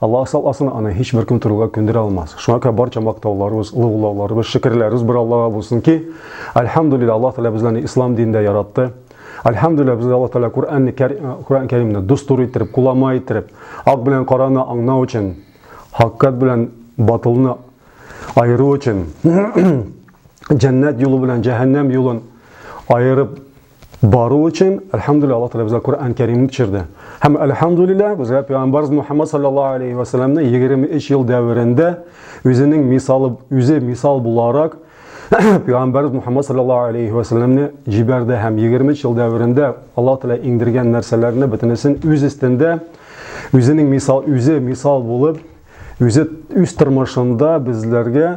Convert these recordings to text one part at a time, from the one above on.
Аллаһ сакласын, аны һичбер кем торырга күндерә алмас. Шуңа күрә барча мактауларыбыз, лыгулауларыбыз, шөкерләребез бер Аллага булсын ки, альхамдулилла, Аллаһ Тәгалә безләрне ислам динендә яратты. Альхамдулилла, безгә Аллаһ Тәгалә Коръәнне, Коръән Кәримне дустур иттереп, кулама иттереп, ак белән караны аңнау өчен, хаккат белән батылны аеру өчен, җәннәт юлы белән җәһәннәм юлын аерып Бару өчен, әлхәмдүлилләһ, Аллаһ Тәгалә безгә Коръән Кәрим төшерде. Һәм әлхәмдүлилләһ, безгә пәйгамбарыбыз Мухаммад саллаллаһу алейһи ва саллямны 23 ел дәверендә үзенең мисалы, үзе мисал буларак пәйгамбарыбыз Мухаммад саллаллаһу алейһи ва саллямны җибәрде һәм 23 ел дәверендә Аллаһ Тәгалә иңдергән нәрсәләрне бөтенесен үз өстендә үзенең мисал, үзе мисал булып, үзе үз тормышында безләргә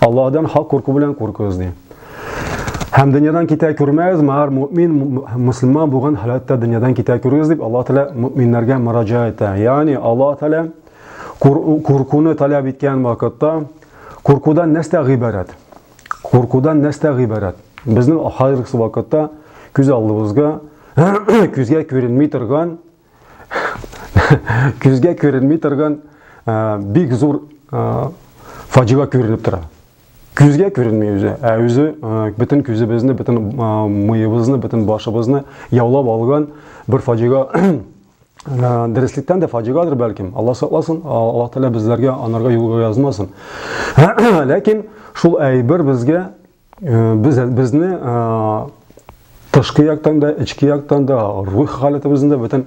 Аллаһдан хак курку белән куркыгыз ди. Һәм дөньядан китә күрмәгез, мәгәр мөмин, мөселман булган халәттә дөньядан китә күрегез дип Аллаһ Тәгалә мөминнәргә мөрәҗә итә. Ягъни Аллаһ Тәгалә куркуны таләп иткән вакытта куркудан нәрсә гыйбарәт? Куркудан нәрсә гыйбарәт? Безнең хәзерге вакытта күз алдыбызга күзгә күренми торган Күзгә күренми торган бик зур фаҗига күренеп тора. Күзгә күренми үзе, ә үзе бөтен күзебезне, бөтен мыебызны, бөтен башыбызны яулап алган бер фаҗига дәреслектән дә фаҗигадыр бәлкем. Алла сакласын, Аллаһ Тәгалә безләргә анарга юлга язмасын. Ләкин шул әйбер безгә Без безне тышкы яктан да, эчке яктан да, рух халәтебезне дә, бөтен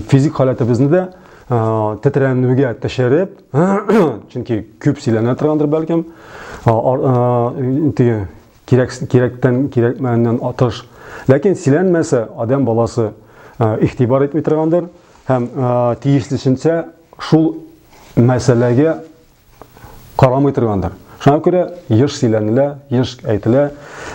физик халәтебезне дә тетрәнүгә төшереп, чөнки күп сөйләнә торгандыр бәлкем, теге кирәк кирәктән кирәкмәгәннән атыш. Ләкин сөйләнмәсә, адам баласы игътибар итми торгандыр һәм тиешлесенчә шул мәсьәләгә карамый торгандыр. Шуңа күрә еш сөйләнелә, еш әйтелә.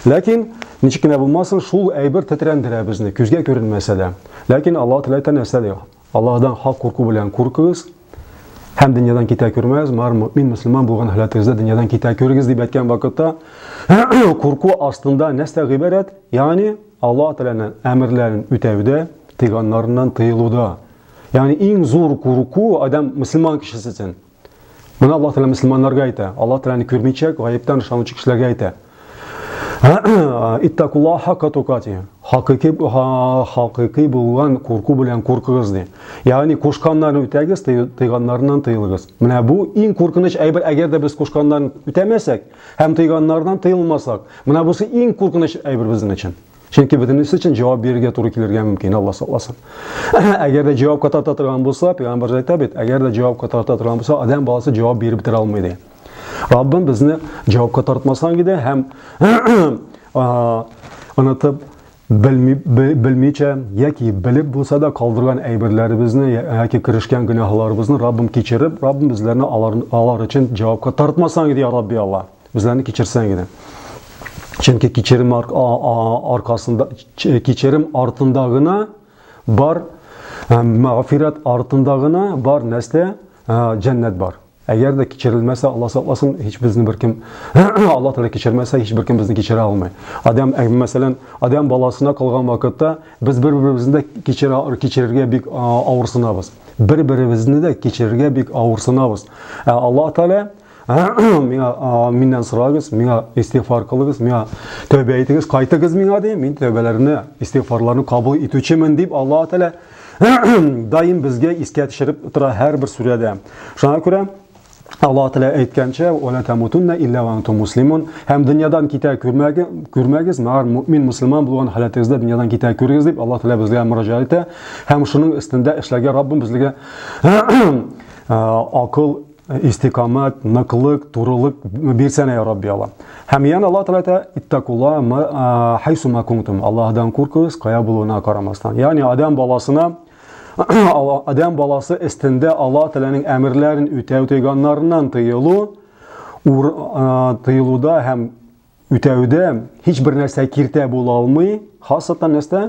Ләкин ничек кенә булмасын, шул әйбер тетрәндерә безне, күзгә күренмәсә дә. Ләкин Аллаһ Тәгалә әйтә нәрсә ди? Аллаһдан хак курку белән куркыгыз һәм дөньядан китә күрмәгез. Мар мөмин мөселман булган халәтегездә дөньядан китә күрегез дип әйткән вакытта курку астында нәрсә гыйбарәт? Ягъни Аллаһ Тәгаләнең әмерләрен үтәүдә, тыйганнарыннан тыелуда. Ягъни иң зур курку адам мөселман кешесе өчен. Моны Аллаһ Тәгалә мөселманнарга әйтә. Аллаһ Тәгаләне күрмичәк, гаептан ышанучы кешеләргә әйтә. Иттакулла хакка тукати. Хакыйкый хакыйкый булган курку белән куркыгыз ди. Ягъни кушканнарны үтәгез, тыйганнарыннан тыелыгыз. Менә бу иң куркыныч әйбер, әгәр дә без кушканнарны үтәмәсәк һәм тыйганнардан тыелмасак. Менә бусы иң куркыныч әйбер безнең өчен. Чөнки бөтенесе өчен җавап бирергә туры килергә мөмкин, Алла сакласын. Әгәр дә җавапка тарта торган булса, пәйгамбәр әйтә бит, әгәр дә җавапка тарта торган булса, адәм баласы җавап биреп бетерә алмый ди. Раббым безне җавапка тартмасын иде һәм онытып белмичә яки белеп булса да калдырган әйберләребезне яки керешкән гөнаһларыбызны Раббым кичереп, Раббым безләрне алар, алар өчен җавапка тартмасаң иде, я Рабби Алла. Үзләрне кичерсәң генә. Чөнки кичерем аркасында кичерем артында гына бар мәгъфират артында гына бар нәрсә җәннәт бар. Әгәр дә кичерелмәсә, Алла сакласын, һич безне беркем Алла Тәгалә кичермәсә, һич беркем безне кичерә алмый. Адам, мәсәлән, Адам баласына калган вакытта без бер-беребезне дә кичерә кичерергә бик авырсынабыз. Бер-беребезне дә кичерергә бик авырсынабыз. Алла Тәгалә миңа миннән сорагыз, миңа истигъфар кылыгыз, миңа тәүбә итегез, кайтыгыз миңа ди. Мин тәүбәләрне, истигъфарларны кабул итүчемен дип Аллаһ Тәгалә даим безгә искә төшереп тора һәрбер сүрәдә. Шуңа күрә Аллаһ Тәгалә әйткәнчә, "Ва ла тамутунна илля ва антум муслимун" һәм дөньядан китә күрмәгез, күрмәгез, мәгәр мөмин мусламан булган халәтегездә дөньядан китә күрегез дип Аллаһ Тәгалә безгә мөрәҗәгать итә һәм шуның өстендә эшләргә Раббым безгә акыл истикамәт, ныклык, турылык бирсәнә я Рабби Аллам. Һәм ян Аллаһ Тәгалә әйтә, иттакула хайсума кунтум. Аллаһдан куркыгыз, кая булуына карамастан. Ягъни адам баласына адам баласы истендә Аллаһ Тәгаләнең әмерләрен үтәү тыйганнарыннан тыелу, тыелуда һәм Үтәүдә һичбер нәрсә киртә була алмый, хасатан нәрсә?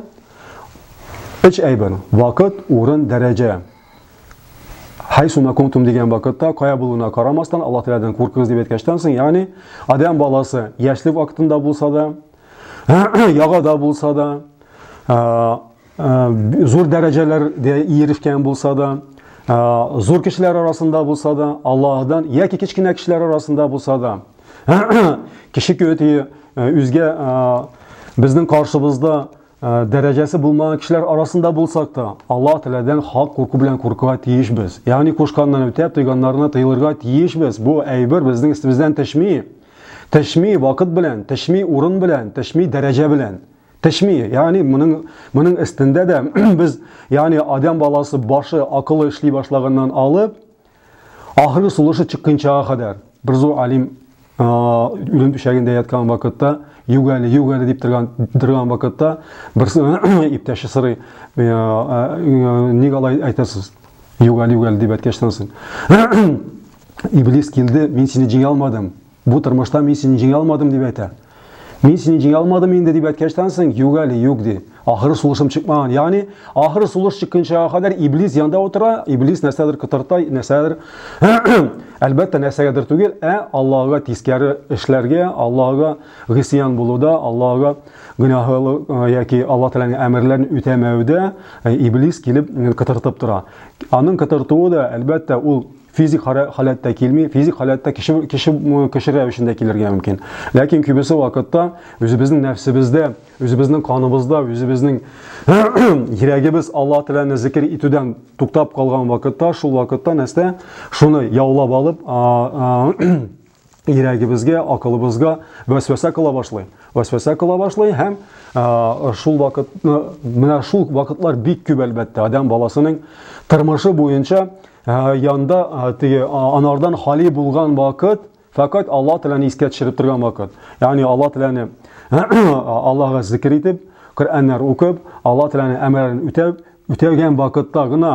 Өч әйбер, вакыт, урын, дәрәҗә. Хайсуна кунтум дигән вакытта, кая булуына карамастан, Аллаһ Тәгаләдән куркыгыз дип әйткәнчтән соң, ягъни адәм баласы яшьлек вакытында булса да, ягада булса да, зур дәрәҗәләргә ирешкән булса да, зур кешеләр арасында булса да, Аллаһдан яки кечкенә кешеләр арасында булса да, кеше көтүе үзгә безнең каршыбызда дәрәҗәсе булмаган кешеләр арасында булсак та, Аллаһ Тәгаләдән хак курку белән куркуга тиешбез. Ягъни кушканнан үтәп, тыйганнарына тыелырга тиешбез. Бу әйбер безнең истебездән төшми. Төшми вакыт белән, төшми урын белән, төшми дәрәҗә белән. Пешми, ягъни моның моның өстендә дә без, ягъни адәм баласы башы, акылы эшли башлаганнан алып, ахыргы сулышы чыкканчага кадәр бер зур алим үлем түшәгендә яткан вакытта юк әле юк әле дип торган торган вакытта берсе иптәше сорый ник алай әйтәсез юк әле юк әле дип әйткәчтән соң иблис килде мин сине җиңә алмадым Бу тормышта мин сине җиңә алмадым, дип әйтә. Мин сине җиңә алмадым инде, дип әйткәчтән соң, юк әле, юк, ди. Ахры сулышым чыкмаган. Ягъни, ахры сулыш чыкканчага кадәр Иблис янда утыра, Иблис нәрсәдер кытырта, нәрсәдер, әлбәттә, нәрсәгәдер түгел, ә Аллаһыга тискәре эшләргә, Аллаһыга гыйсиян булуда, Аллаһыга гөнаһлы яки Аллаһ Тәгаләнең әмерләрен үтәмәүдә Иблис килеп кытыртып тора. Аның кытыртуы да, әлбәттә, ул физик халәттә килми, физик халәттә кеше, кеше, кеше рәвешендә килергә мөмкин. Ләкин күбесе вакытта үзебезнең нәфсебездә, үзебезнең каныбызда, үзебезнең йөрәгебез Алла Тәгаләне зикер итүдән туктап калган вакытта, шул вакытта нәрсә? Шуны яулап алып, йөрәгебезгә, акылыбызга вәсвәсә кыла башлый. Вәсвәсә кыла башлый һәм шул вакыт менә шул вакытлар бик күп әлбәттә. Адам баласының тормышы буенча янда теге анардан хали булган вакыт фәкать Алла теләне искә төшереп торган вакыт. Ягъни Алла теләне Аллага зикр итеп, Коръәннәр укып, Алла теләне әмерен үтәп, үтәгән вакытта гына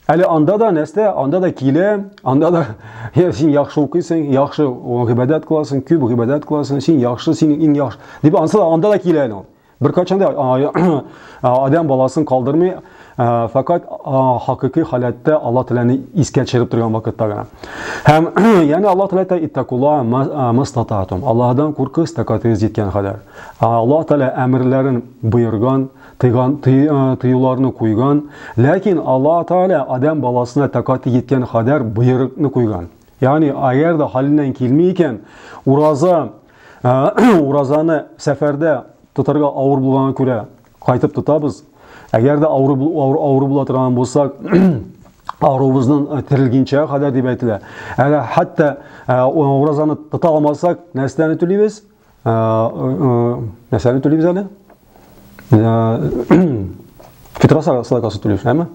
Әле анда да нәрсә, анда да килә, анда да син яхшы укыйсың, яхшы гыйбадәт кыласың, күп гыйбадәт кыласың, син яхшы, син иң яхшы. Дип ансы да анда да килә әле ул. Бер качан да адам баласын калдырмый, факат хакыйкый халәттә Аллаһ Тәгаләне искә төшереп торган вакытта гына. Һәм яне Аллаһ Тәгалә әйтә иттакула мастататум. Аллаһдан куркыгыз тәкатегез җиткән кадәр. Аллаһ Тәгалә әмерләрен боерган, Тыйган, тый, тыюларны куйган. Ләкин Аллаһ Тәгалә Адәм баласына тәкати җиткән кадәр боерыкны куйган. Ягъни, әгәр дә хәленнән килми икән, ураза, уразаны сәфәрдә тотарга авыр булганга күрә кайтып тотабыз. Әгәр дә авыр, авыр, авыр була торган булсак, авырыбызның э, терелгенчә кадәр дип әйтелә. Әле хәтта э, уразаны тота алмасак, нәрсәне түлибез? Нәрсәне түлибез әле? Фитра садакасын түлибез, әме?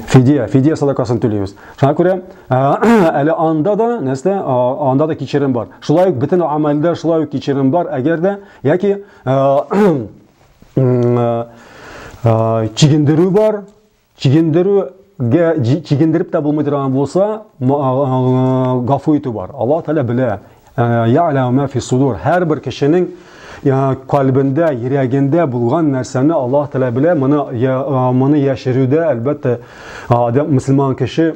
Фидия, фидия садакасын түлибез. Шуңа күрә әле анда да нәрсә, анда да кичерем бар. Шулай ук бөтен амәлдә шулай ук кичерем бар, әгәр дә яки чигендерү бар, Чигендерү чигендереп тә булмый торган булса, гафу итү бар. Алла Тәгалә белә. Я'ламу ма фи судур. Һәрбер кешенең калбендә, йөрәгендә булган нәрсәне Алла Тәгалә белә. Моны моны яшерүдә, әлбәттә, адам мусламан кеше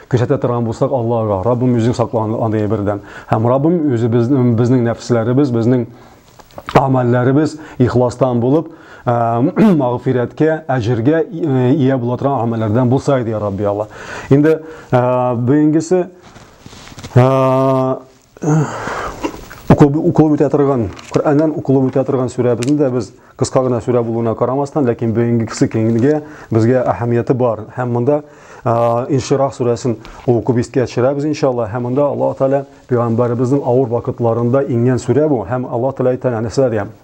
Күрсәтә торган булсак Аллаһга, Раббым үзең сакла андый әйбердән. Һәм Раббым үзе безнең безнең нәфесләребез, безнең амәлләребез ихластан булып, магфирәткә, әҗергә ия була торган амәлләрдән булса иде, Рабби Алла. Инде бүгенгесе укылып үтә торган Коръәннән укылып үтә торган сүрәбезне дә без кыска гына сүрә булуына карамастан, ләкин бүгенгесе киңгә безгә әһәмияте бар. Һәм монда Инширах сүрәсен укып искә төшерәбез иншалла. Һәм монда Аллаһ Тәгалә пәйгамбәребезнең авыр вакытларында иңгән сүрә бу. Һәм Аллаһ Тәгалә әйтә нәрсәләргә?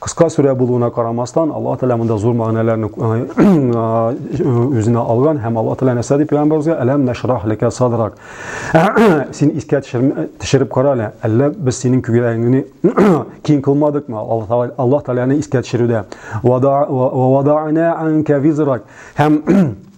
Кыска сүрә булуына карамастан, Аллаһ Тәгалә монда зур мәгънәләрне үзенә алган һәм Аллаһ Тәгалә нәрсә дип пәйгамбәребезгә әләм нәшрах ләкә садрак. Син искә төшереп кара әле, әллә без синең күгәрәгеңне киң кылмадыкмы? Аллаһ Тәгаләне искә төшерүдә. Ва вадана анка визрак. Һәм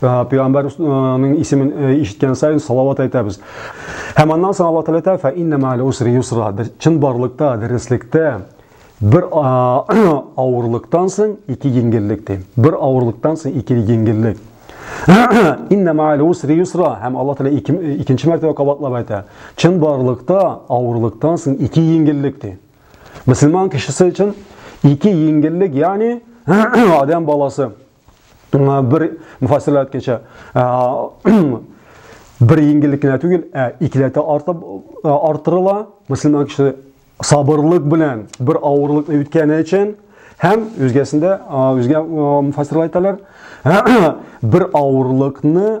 Пәйгамбәрнең исемен ишеткән саен салават әйтәбез. Һәм аннан соң Аллаһ Тәгалә әйтә, "Фәиннә ма'ал усри юсра". Чын барлыкта, дөреслектә бер авырлыктан соң ике җиңеллек ди. Бер авырлыктан соң ике җиңеллек. Инна мааль усри юсра һәм Алла Тәгалә икенче мәртәбә кабатлап әйтә. Чын барлыкта авырлыктан соң ике еңгеллек ди. Мөселман кешесе өчен ике еңгеллек, ягъни адам баласы бер муфассирлар әйткәнчә бер еңгеллек кенә түгел, ә икеләтә артып артырыла. Мөселман кеше сабырлык белән бер авырлыкны үткәне өчен һәм үзгәсендә үзгә муфассирлар әйтәләр, бер авырлыкны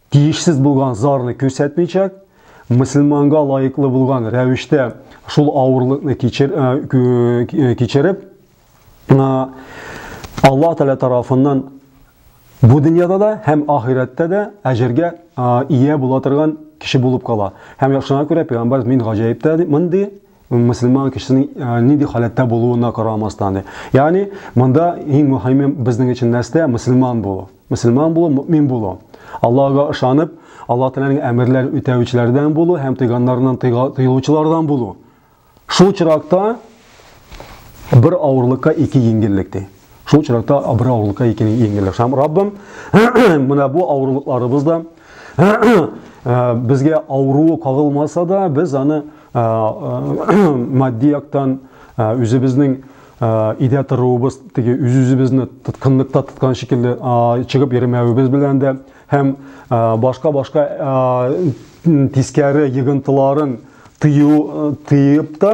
Тиешсез булган зарны күрсәтмичәк, мөселманга лаеклы булган рәвештә шул авырлыкны кичер, кичереп, Аллаһ Тәгалә тарафыннан бу дөньяда да һәм ахирәттә дә әҗергә ия була торган кеше булып кала. Һәм шуңа күрә пәйгамбәр мин гаҗәиптә монды мөселман кешесенең э, нинди халәттә булуына карамастан ди ягъни монда иң мөһиме безнең өчен нәрсә мөселман булу мөселман булу мөмин булу аллага ышанып алла тәгаләнең әмерләрен үтәүчеләрдән булу һәм тыйганнарыннан тыелучылардан булу шул чиракта бер авырлыкка ике еңеллек ди Шул очракта бер авырлыкка икене еңгәнлек һәм Раббым менә бу авырлыкларыбыз да безгә авыруы кагылмаса да, без аны матди яктан үзебезнең идә торуыбыз теге үз-үзебезне тоткынлыкта тоткан шикелле чыгып йөрмәвебез белән дә һәм башка-башка тискәре йогынтыларын тыю тыеп та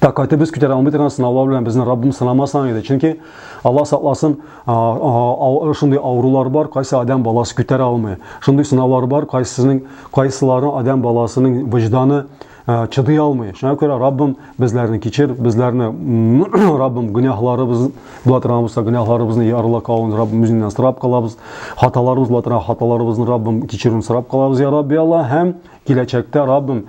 тәкате без күтәрә алмый торган сынаулар белән безне Раббым сынамасаң иде. Чөнки Алла сакласын, шундый авырулар бар, кайсы адам баласы күтәрә алмый. Шундый сынаулар бар, кайсының кайсылары адам баласының вөҗданы чыдый алмый. Шуңа күрә Раббым безләрне кичер, безләрне Раббым гөнаһларыбыз була торган булса, гөнаһларыбызны ярыла калуын Раббым үзеннән сорап калабыз. Хаталарыбыз була торган хаталарыбызны Раббым кичерүен сорап калабыз, я Рабби Алла, һәм киләчәктә Раббым